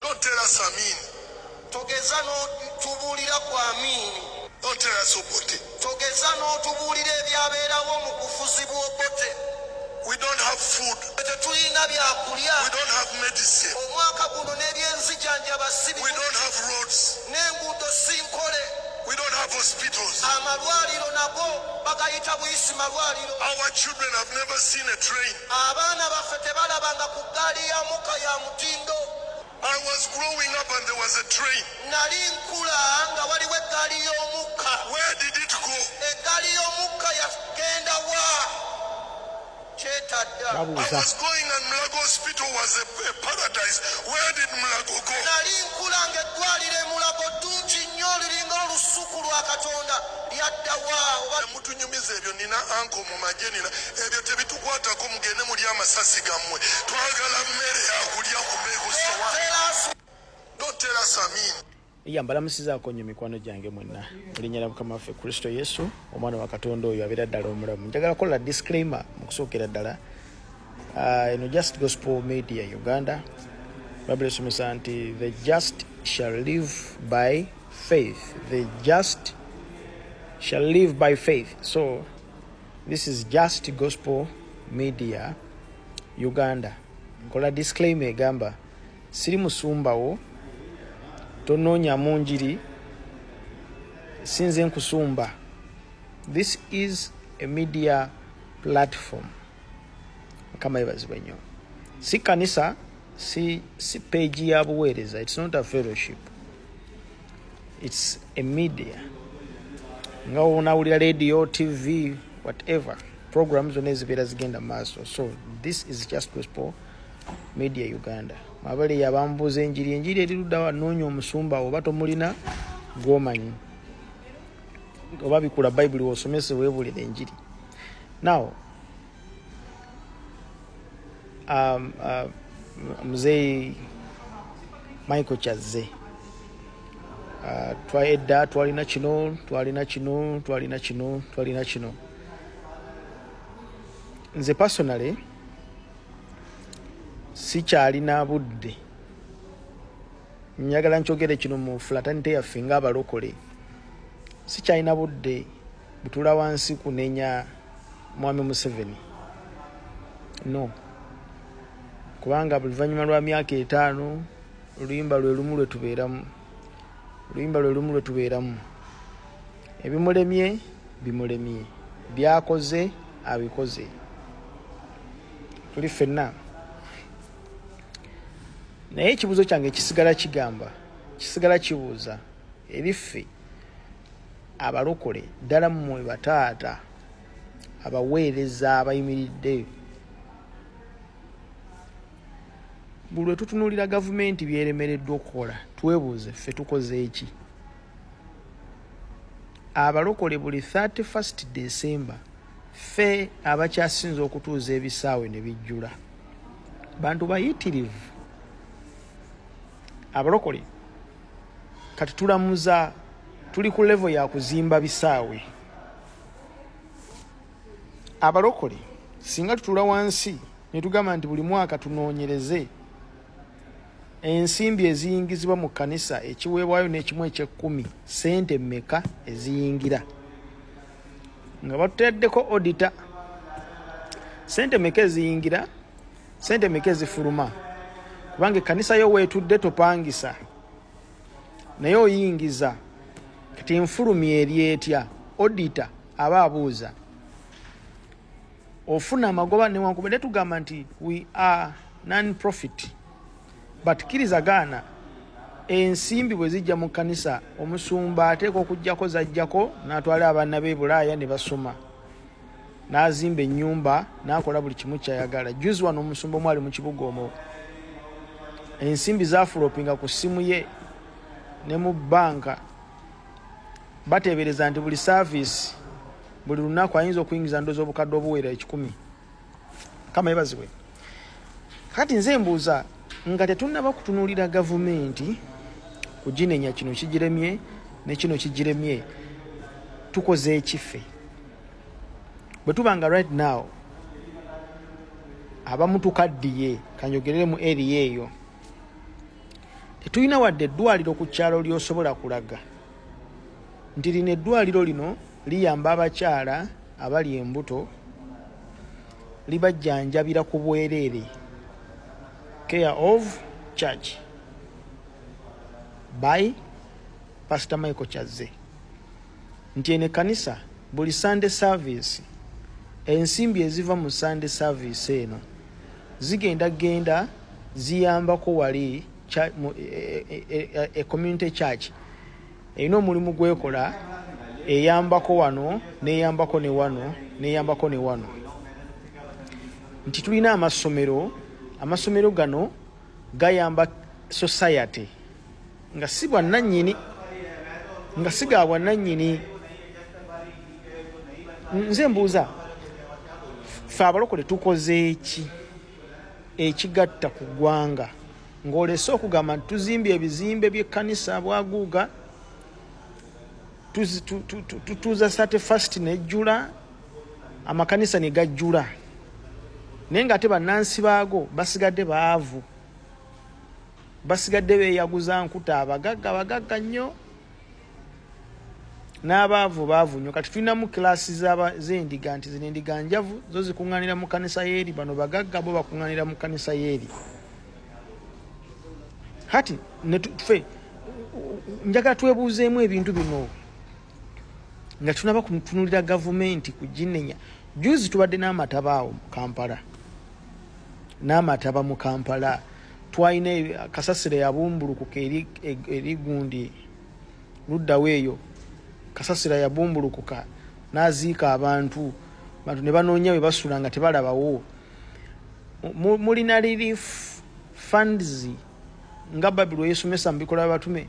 Don't tell us Amin. Togeza n'otubuulira ku Amin. Don't tell us Obote. Togeza n'otubuulira ebyabeerawo mu bufuzi bw'Obote. We don't have food. Tetulina byakulya. We don't have medicine. Omwaka guno n'ebyenzijanjaba si We don't have roads. N'enguudo si nkole. We don't have hospitals. Amalwaliro nago bagayita buyisi malwaliro. Our children have never seen a train. Abaana baffe tebalabanga ku ggaali ya mukka ya mutindo. I was growing up and there was a train. Nali nkula nga waliwo eggaali y'omukka. Where did it go? Eggaali y'omukka yagenda wa? Kyetadda. I was going and Mulago Hospital was a, a paradise. Where did Mulago go? Nali nkula nga eddwaliro e Mulago ddungi nnyo liringa olusuku lwa Katonda lyadda wa? Mutunyumiza ebyo nina anko mumaje nina ebyo tebitukwatako mugende muli amasasi gamwe twagala mmere yakulya kubegusowa don't tell us amin iya mbalamusizaako nnyo mikwano gyange mwenna erinnya lya mukama waffe kristo yesu omwana wa katonda oyo abeera ddala omulamu njagala kukola disclaimer mu kusookera ddala ah, eno just gospel media uganda babula esomesa nti the just shall live by faith the just shall live by faith so this is just gospel media uganda nkola disclaimer egamba siri musumbawo tonoonya mu njiri sinze nkusumba this is a media platform mukama yebazibwe nnyo si kanisa si, si page ya buweereza it's not a fellowship its a media nga onawulira radio tv whatever program zonna ezibeera zigenda maaso so this is just gospel media uganda mwabale yabambuuza enjiri enjiri eriruddawa noonya omusumba oba tomulina gwomanyi oba bikula bayibuli wosomese webulira enjiri now um, uh, mzee Michael Chazze uh, twa edda twalina kino twalina kino twalina kino twalina kino nze personally sikyalina budde njagala nkyogere kino mu flatanite yaffe ngaabalokole sikyalina budde butula wansi kunenya mwami museveni no kubanga buluvanyuma lwa myaka etaano oluyimba lwe lumu lwe tubeeramu oluyimba lwe lumu lwe tubeeramu ebimulemye bimulemye byakoze abikoze tuli fenna naye ekibuzo kyange kisigala kigamba kisigala kibuuza ebiffe abalokole ddala mmwe bataata abaweereza abayimiridde buli lwe tutunuulira gavumenti byeremereddwa okukola twebuuze ffe tukoze eki abalokole buli 31st december ffe abakyasinza okutuuza ebisaawe ne bijjula bantu bayitirivu abalokole kati tulamuza tuli ku levo ya kuzimba bisaawe abalokole singa tutula wansi netugamba nti buli mwaka tunoonyereze ensimbi eziyingizibwa mu kanisa ekiweebwayo n'ekimu ekyekkumi sente mmeka eziyingira nga batuteddeko odita sente meka eziyingira sente meka ezifuluma kubanga ekkanisa yo weetudde topangisa naye oyingiza kati nfulumya eri etya odita aba abuuza ofuna amagoba newankubadde tugamba nti we are non profit but kkiriza gaana ensimbi bwe zijja mu kkanisa omusumba ateeka okujjako zajjako n'atwala abaana be bulaaya ne basoma n'azimba ennyumba n'akola buli kimu kyayagala juzi wano omusumba omwali mu kibuga omwo ensimbi zafulopinga ku ssimu ye ne mu bbanka bateebereza nti buli saaviisi buli lunaku ayinza okuyingiza ndozi obukadde obuweera ekikumi kama ebazibwe kati nze mbuuza nga tetunnaba kutunuulira gavumenti kuginenya kino kigiremye ne kino kigiremye tukoze ekiffe bwe tuba nga right now abamu tukaddiye kanjogerere mu eriya eyo tetulina wadde eddwaliro ku kyalo lyosobola kulaga nti lino eddwaliro lino liyamba abakyala abali embuto libajjanjabira ku bwereere care of church by pastor michael kyazze nti eno ekkanisa buli sunday service ensimbi eziva mu sunday service eno zigenda genda ziyambako wali e, e, e, community church erina omulimu gwekola eyambako wano neyambako ne wano neyambako ne wano nti tulina amasomero amasomero gano gayamba society nga si bwannanyini nga si ga bwannanyini nze mbuuza fe abalokole tukoze eki ekigatta ku ggwanga ng'olese okugamba nti tuzimbye ebizimbe by'ekkanisa bwaguuga tutuuza sate fast nejjula amakanisa ne gajjula naye ng'ate bannansi baago basigadde baavu basigadde beeyaguza nkuta abagagga bagagga nnyo n'abaavu baavu nnyo kati tulinamu kilaasi z'endiga nti zino endiga njavu zo zikuŋŋaanira mu kkanisa y'eri bano bagagga bo bakuŋŋaanira mu kkanisa y'eri kati netufe njagala twebuuzeemu ebintu bino nga tunaba kutunulira gavumenti kuginenya juzi tubadde n'amataba awo mu kampala n'amataba mu kampala twalina kasasiro yabumbulukuka eri gundi luddawo eyo kasasira yabumbulukuka n'aziika abantu bantu ne banoonya bwe basula nga tebalabawo mulina relief funds nga babilu yesomesa mu bikola byabatume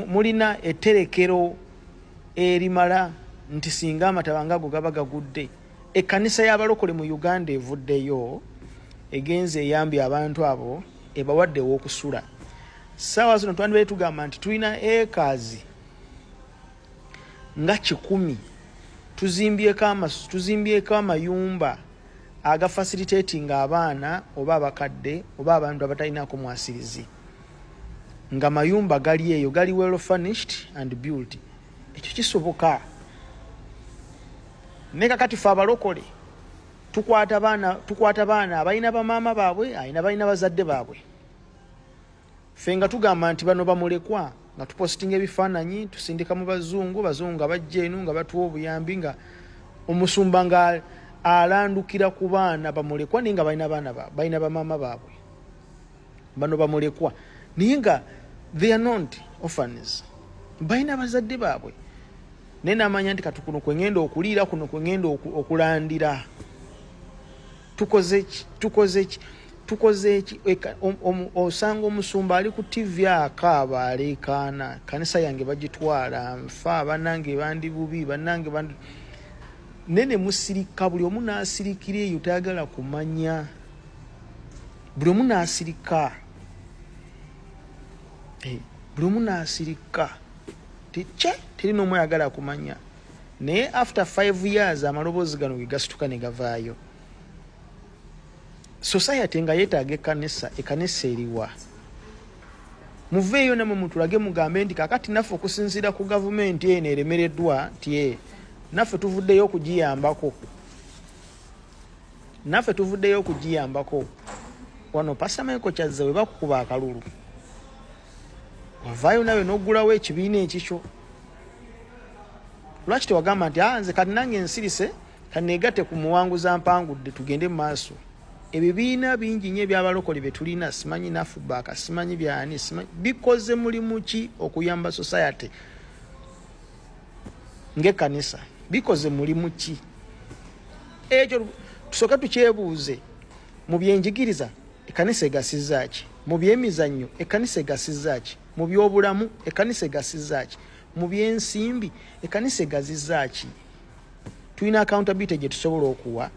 mulina etterekero erimala nti singa amataba nga ago gaba gagudde Ekkanisa y'abalokole mu Uganda evuddeyo egenze eyambye abantu abo ebawadde ew'okusula. Ssaawa zino twandibadde tugamba nti tulina ekaazi nga kikumi tuzimbyeko amasu tuzimbyeko amayumba aga facilitating abaana oba abakadde oba abantu abatalinaako mwasirizi nga mayumba gali eyo gali well furnished and built ekyo kisoboka ne kakati fe abalokole tukwata baana tukwata baana abalina bamaama baabwe alina balina bazadde baabwe fe nga tugamba nti bano bamulekwa nga tupositinga ebifaananyi tusindika mu bazungu bazungu nga bajja eno nga batuwa obuyambi nga omusumba nga alandukira ku baana bamulekwa naye nga balina baana balina bamaama baabwe bano bamulekwa naye nga they are not orphans balina bazadde baabwe naye namanya nti kati kuno kwengenda okuliira kuno kwengenda okulandira tukozeki tukozeki tukozeki osanga omusumba ali ku tivi akaaba aleekaana kanisa yange bagitwala nfa banange bandi bubi banange bandi nene musirika buli omu nasirikira eyo tayagala kumanya buli omu n'asirika eh, buli omu n'asirika tekye teri n'omu ayagala akumanya naye after five years amaloboozi gano ge gasituka ne gavaayo society nga yeetaaga ekanisa ekanisa eriwa muveeyo namwe mutulage mugambe nti kakati naffe okusinziira ku gavumenti eno eremereddwa nti eh, naffe tuvuddeyo okugiyambako naffe tuvuddeyo okugiyambako wano pasta michael kyazza we bakukuba akalulu wavaayo nawe nogulawo ekibiina ekikyo lwaki tewagamba nti ah, nze kati nange nsirise kaneegate ku muwanguza mpangudde tugende mu maaso ebibiina bingi nyo ebyabalokole byetulina simanyi nafubaka simanyi byani simanyi bikoze mulimu ki okuyamba society ngaekanisa bikoze mulimu ki ekyo tusooke tukyebuuze mu byenjigiriza ekkanisa egasiza ki mu byemizannyo ekkanisa egasiza ki mu byobulamu ekkanisa egasiza ki mu byensimbi ekkanisa egaziza ki tulina accountability gye tusobola okuwa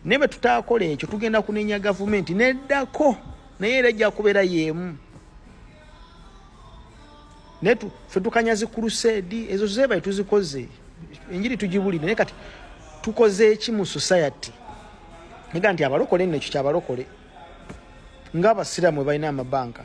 naye bwe tutaakola ekyo tugenda kunenya gavumenti neddako naye era ejja kubeera y'emu naye ffe tukanyazi kuruseedi ezo zebaye tuzikoze enjiri tugibulire naye kati tukoze eki mu society nega nti abalokole nno ekyo kyabalokole nga abasiraamu webalina amabanka